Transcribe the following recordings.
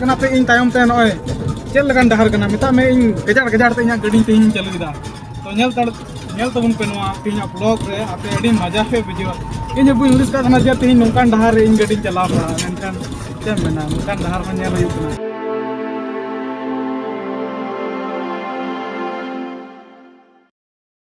ᱠᱟᱱᱟ ᱛᱮ ᱤᱧ ᱛᱟᱭᱚᱢ ᱛᱮ ᱱᱚᱜᱼᱚᱭ ᱪᱮᱫ ᱞᱮᱠᱟᱱ ᱰᱟᱦᱟᱨ ᱠᱟᱱᱟ ᱢᱮᱛᱟᱜ ᱢᱮ ᱤᱧ ᱜᱟᱡᱟᱲ ᱜᱟᱡᱟᱲ ᱛᱮ ᱤᱧᱟᱹᱜ ᱜᱟᱹᱰᱤ ᱛᱮᱦᱮᱧ ᱪᱟᱹᱞᱩᱭᱮᱫᱟ ᱛᱚ ᱧᱮᱞ ᱛᱟᱲ ᱧᱮᱞ ᱛᱟᱵᱚᱱ ᱯᱮ ᱱᱚᱣᱟ ᱛᱮᱦᱮᱧᱟᱜ ᱵᱞᱚᱜ ᱨᱮ ᱟᱯᱮ ᱟᱹᱰᱤ ᱢᱟᱡᱟ ᱯᱮ ᱵᱩᱡᱷᱟᱹᱣᱟ ᱤᱧ ᱦᱚᱸ ᱵᱟᱹᱧ ᱦᱩᱫᱤᱥ ᱠᱟᱜ ᱠᱟᱱᱟ ᱡᱮ ᱛᱮᱦᱮᱧ ᱱᱚᱝᱠᱟᱱ ᱰᱟᱦᱟᱨ ᱨᱮ ᱤᱧ ᱜᱟᱹᱰᱤᱧ ᱪᱟᱞᱟᱣ ᱠᱟᱜᱼᱟ ᱢᱮᱱᱠᱷᱟᱱ ᱪᱮᱫ ᱮᱢ ᱢᱮᱱᱟ ᱱᱚᱝᱠᱟᱱ ᱰᱟᱦᱟᱨ ᱦᱚᱸ ᱧᱮᱞ ᱦᱩᱭᱩᱜ ᱠᱟᱱᱟ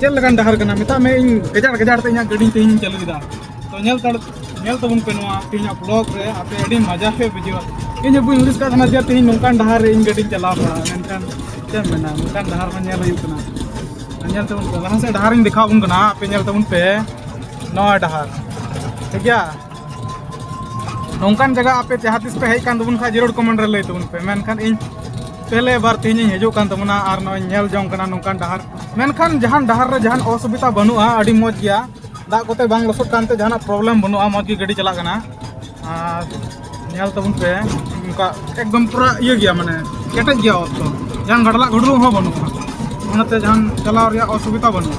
ᱪᱮᱫ ᱞᱮᱠᱟᱱ ᱰᱟᱦᱟᱨ ᱠᱟᱱᱟ ᱢᱮᱛᱟᱜ ᱢᱮ ᱤᱧ ᱜᱟᱡᱟᱲ ᱜᱟᱡᱟᱲ ᱛᱮ ᱤᱧᱟᱹᱜ ᱜᱟᱹᱰᱤ ᱛᱮᱦᱮᱧ ᱪᱟᱹᱞᱩ ᱠᱮᱫᱟ ᱛᱚ ᱧᱮᱞ ᱛᱟᱲ ᱧᱮᱞ ᱛᱟᱵᱚᱱ ᱯᱮ ᱱᱚᱣᱟ ᱛᱮᱦᱮᱧᱟᱜ ᱵᱞᱚᱜ ᱨᱮ ᱟᱯᱮ ᱟᱹᱰᱤ ᱢᱟᱡᱟ ᱯᱮ ᱵᱩᱡᱷᱟᱹᱣᱟ ᱤᱧ ᱦᱚᱸ ᱵᱟᱹᱧ ᱦᱩᱫᱤᱥ ᱠᱟᱜ ᱛᱟᱦᱮᱱᱟ ᱡᱮ ᱛᱮᱦᱮᱧ ᱱᱚᱝᱠᱟᱱ ᱰᱟᱦᱟᱨ ᱨᱮ ᱤᱧ ᱜᱟᱹᱰᱤᱧ ᱪᱟᱞᱟᱣ ᱵᱟᱲᱟᱜᱼᱟ ᱢᱮᱱᱠᱷᱟᱱ ᱪᱮᱫ ᱮᱢ ᱢᱮᱱᱟ ᱱᱚᱝᱠᱟᱱ ᱰᱟᱦᱟᱨ ᱦᱚᱸ ᱧᱮᱞ ᱦᱩᱭᱩᱜ ᱠᱟᱱᱟ ᱧᱮᱞ ᱛᱟᱵᱚᱱ ᱯᱮ ᱞᱟᱦᱟ ᱥᱮᱫ ᱰᱟᱦᱟᱨᱤᱧ ᱫᱮᱠᱷᱟᱣ ᱟᱵᱚᱱ ᱠᱟᱱᱟ ᱟᱯᱮ ᱧᱮᱞ ᱛᱟᱵᱚᱱ ᱯᱮ ᱱᱚᱣᱟ ᱰᱟᱦᱟᱨ ᱴᱷᱤᱠ ᱜᱮᱭᱟ ᱱᱚᱝᱠᱟᱱ ᱡᱟᱭᱜᱟ ᱟᱯᱮ ᱡᱟᱦᱟᱸ ᱛᱤᱥ ᱯᱮ ᱦᱮᱡ ᱠᱟᱱ ᱛᱟᱵᱚᱱ ᱠᱷᱟᱱ ᱡᱟᱹᱨᱩᱲ ᱠᱚᱢᱮᱱᱴ ᱨᱮ ᱞᱟᱹᱭ ᱛᱟᱵᱚᱱ ᱯᱮ ᱢᱮᱱᱠᱷᱟᱱ ᱤᱧ ᱯᱮᱦᱞᱮ ᱵᱟᱨ ᱛᱮᱦᱮᱧ ᱤᱧ ᱦᱤᱡᱩᱜ ᱠᱟᱱ ᱛᱟᱵᱚᱱᱟ ᱟᱨ ᱱᱚᱜᱼᱚᱭ ᱧᱮᱞ ᱡᱚᱝ ᱠᱟᱱᱟ ᱱᱚᱝᱠᱟᱱ ᱰᱟᱦᱟᱨ ᱢᱮᱱᱠᱷᱟᱱ ᱡᱟᱦᱟᱱ ᱰᱟᱦᱟᱨ ᱨᱮ ᱡᱟᱦᱟᱱ ᱚᱥᱩᱵᱤᱫᱷᱟ ᱵᱟᱹᱱᱩᱜᱼᱟ ᱟᱹᱰᱤ ᱢᱚᱡᱽ ᱜᱮᱭᱟ ᱫᱟᱜ ᱠᱚᱛᱮ ᱵᱟᱝ ᱞᱚᱥᱚᱫ ᱠᱟᱱᱛᱮ ᱡᱟᱦᱟᱱᱟᱜ ᱯᱨᱚᱵᱞᱮᱢ ᱵᱟᱹᱱᱩᱜᱼᱟ ᱢᱚᱡᱽ ᱜᱮ ᱜᱟᱹᱰᱤ ᱪᱟᱞᱟᱜ ᱠᱟᱱᱟ ᱟᱨ ᱧᱮᱞ ᱛᱟᱵᱚᱱ ᱯᱮ ᱱᱚᱝᱠᱟ ᱮᱠᱫᱚᱢ ᱯᱩᱨᱟ ᱤᱭᱟᱹ ᱜᱮᱭᱟ ᱢᱟᱱᱮ ᱠᱮᱴᱮᱡ ᱜᱮᱭᱟ ᱚᱛ ᱫᱚ ᱡᱟᱦᱟᱱ ᱜᱟᱰᱞᱟᱜ ᱜᱩᱰᱞᱩ ᱦᱚᱸ ᱵᱟᱹᱱᱩᱜᱼᱟ ᱚᱱᱟᱛᱮ ᱡᱟᱦᱟᱱ ᱪᱟᱞᱟᱣ ᱨᱮᱭᱟᱜ ᱚᱥᱩᱵᱤᱫᱷᱟ ᱵᱟᱹᱱᱩᱜᱼᱟ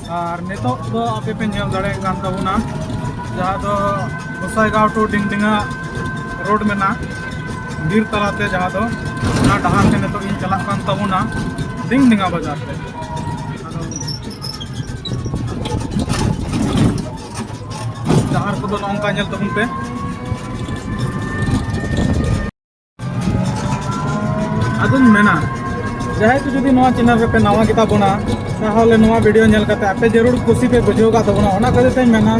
ᱟᱨ ᱱᱤᱛᱚᱜ ᱫᱚ ᱟᱯᱮ ᱯᱮ ᱧᱮᱞ ᱫᱟᱲᱮᱭᱟᱜ ᱠᱟᱱ ᱛᱟᱵᱚᱱᱟ ᱡᱟᱦᱟᱸ ᱫᱚ ᱜᱚᱥᱟᱭᱜᱟᱸᱣ ᱴᱩ ᱰᱤᱝᱰᱤᱝᱟ ᱨᱳᱰ ᱢᱮᱱᱟᱜ ᱵᱤᱨ ᱛᱟᱞᱟᱛᱮ ᱡᱟᱦᱟᱸ ᱫᱚ ᱚᱱᱟ ᱰᱟᱦᱟᱨ ᱛᱮ ᱱᱤᱛᱚᱜ ᱤᱧ ᱪᱟᱞᱟᱜ ᱠᱟᱱ ᱛᱟᱵᱚᱱᱟ ᱰᱤᱝᱰᱤᱝᱟ ᱵᱟᱡᱟᱨ ᱛᱮ ᱰᱟᱦᱟᱨ ᱠᱚᱫᱚ ᱱᱚᱝᱠᱟ ᱧᱮᱞ ᱛᱟᱵᱚᱱ ᱯᱮ ᱟᱫᱚᱧ ᱢᱮᱱᱟ ᱡᱟᱦᱟᱸᱭ ᱠᱚ ᱡᱩᱫᱤ ᱱᱚᱣᱟ ᱪᱮᱱᱮᱞ ᱨᱮᱯᱮ ᱱᱟᱣᱟ ᱜᱮᱛᱟ ᱵᱚᱱᱟ ᱛᱟᱦᱚᱞᱮ ᱱᱚᱣᱟ ᱵᱷᱤᱰᱤᱭᱳ ᱧᱮᱞ ᱠᱟᱛᱮ ᱟᱯᱮ ᱡᱟᱹᱨᱩᱲ ᱠᱩᱥᱤ ᱯᱮ ᱵᱩᱡᱷᱟᱹᱣ ᱠᱟᱜ ᱛᱟᱵᱚᱱᱟ ᱚᱱᱟ ᱠᱷᱟᱹᱛᱤᱨ ᱛᱮᱧ ᱢᱮᱱᱟ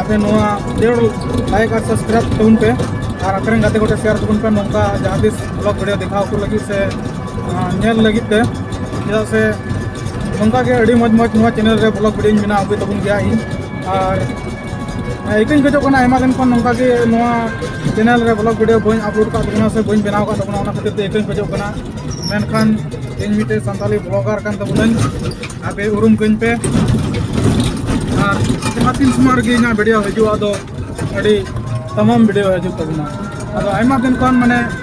ᱟᱯᱮ ᱱᱚᱣᱟ ᱡᱟᱹᱨᱩᱲ ᱞᱟᱭᱤᱠ ᱟᱨ ᱥᱟᱵᱥᱠᱨᱟᱭᱤᱵ ᱛᱟᱵᱚᱱ ᱯᱮ ᱟᱨ ᱟᱯᱮ ᱨᱮᱱ ᱜᱟᱛᱮ ᱠᱚᱴᱷᱮ ᱥᱮᱭᱟᱨ ᱛᱟᱵᱚᱱ ᱯᱮ ᱱᱚᱝᱠᱟ ᱡᱟᱦᱟᱸ ᱛᱤᱥ ᱵᱞᱚᱜ ᱵᱷᱤᱰᱤᱭᱳ ᱫᱮᱠᱷᱟᱣ ᱠᱚ ᱞᱟᱹᱜᱤᱫ ᱥᱮ ᱧᱮᱞ ᱞᱟᱹᱜᱤᱫ ᱛᱮ ᱪᱮᱫᱟᱜ ᱥᱮ ᱱᱚᱝᱠᱟ ᱜᱮ ᱟᱹᱰᱤ ᱢᱚᱡᱽ ᱢᱚᱡᱽ ᱱᱚᱣᱟ ᱪᱮᱱᱮᱞ ᱨᱮ ᱵᱞᱚᱜ ᱵᱷᱤᱰᱤᱭᱳᱧ ᱵᱮᱱᱟᱣ ᱟᱹᱜᱩᱭ ᱛᱟᱵᱚᱱ ᱜᱮᱭᱟ ᱤᱧ ᱟᱨ ᱤᱠᱟᱹᱧ ᱠᱷᱚᱡᱚᱜ ᱠᱟᱱᱟ ᱟᱭᱢᱟ ᱫᱤᱱ ᱠᱷᱚᱱ ᱱᱚᱝᱠᱟ ᱜᱮ ᱱᱚᱣᱟ ᱪᱮᱱᱮᱞ ᱨᱮ ᱵᱞᱚᱜ ᱵᱷᱤᱰᱤᱭᱳ ᱵᱟᱹᱧ ᱟᱯᱞᱳᱰ ᱠᱟᱜ ᱛᱟᱵᱚᱱᱟ ᱥᱮ ᱵᱟᱹᱧ ᱵᱮᱱᱟᱣ ᱠᱟᱜ ᱛᱟᱵᱚᱱᱟ ᱚᱱᱟ ᱠᱷᱟᱹᱛᱤᱨ ᱛᱮ ᱤᱠᱟᱹᱧ ᱠᱷᱚᱡᱚᱜ ᱠᱟᱱᱟ ᱢᱮᱱᱠᱷᱟᱱ ᱤᱧ ᱢᱤᱫᱴᱮᱡ ᱥᱟᱱᱛᱟᱞᱤ ᱵᱞᱚᱜᱟᱨ ᱠᱟᱱ ᱛᱟᱵᱚᱱᱟᱹᱧ ᱟᱯᱮ ᱩᱨᱩᱢ ᱠᱟᱹᱧ ᱯᱮ ᱟᱨ ᱡᱟᱦᱟᱸ ᱛᱤᱱ ᱥᱚᱢᱚᱭ ᱨᱮᱜᱮ ᱤᱧᱟᱹᱜ ᱵᱷᱤᱰᱤᱭᱳ ᱦᱤᱡᱩᱜᱼᱟ ᱟᱫᱚ ᱟᱹᱰᱤ ᱛᱟᱢᱟᱢ ᱵᱷᱤᱰᱤᱭᱳ ᱦᱤᱡᱩᱜ ᱛᱟᱵᱚᱱᱟ ᱟᱫᱚ ᱟᱭᱢᱟ ᱫᱤᱱ ᱠᱷᱚᱱ ᱢᱟᱱᱮ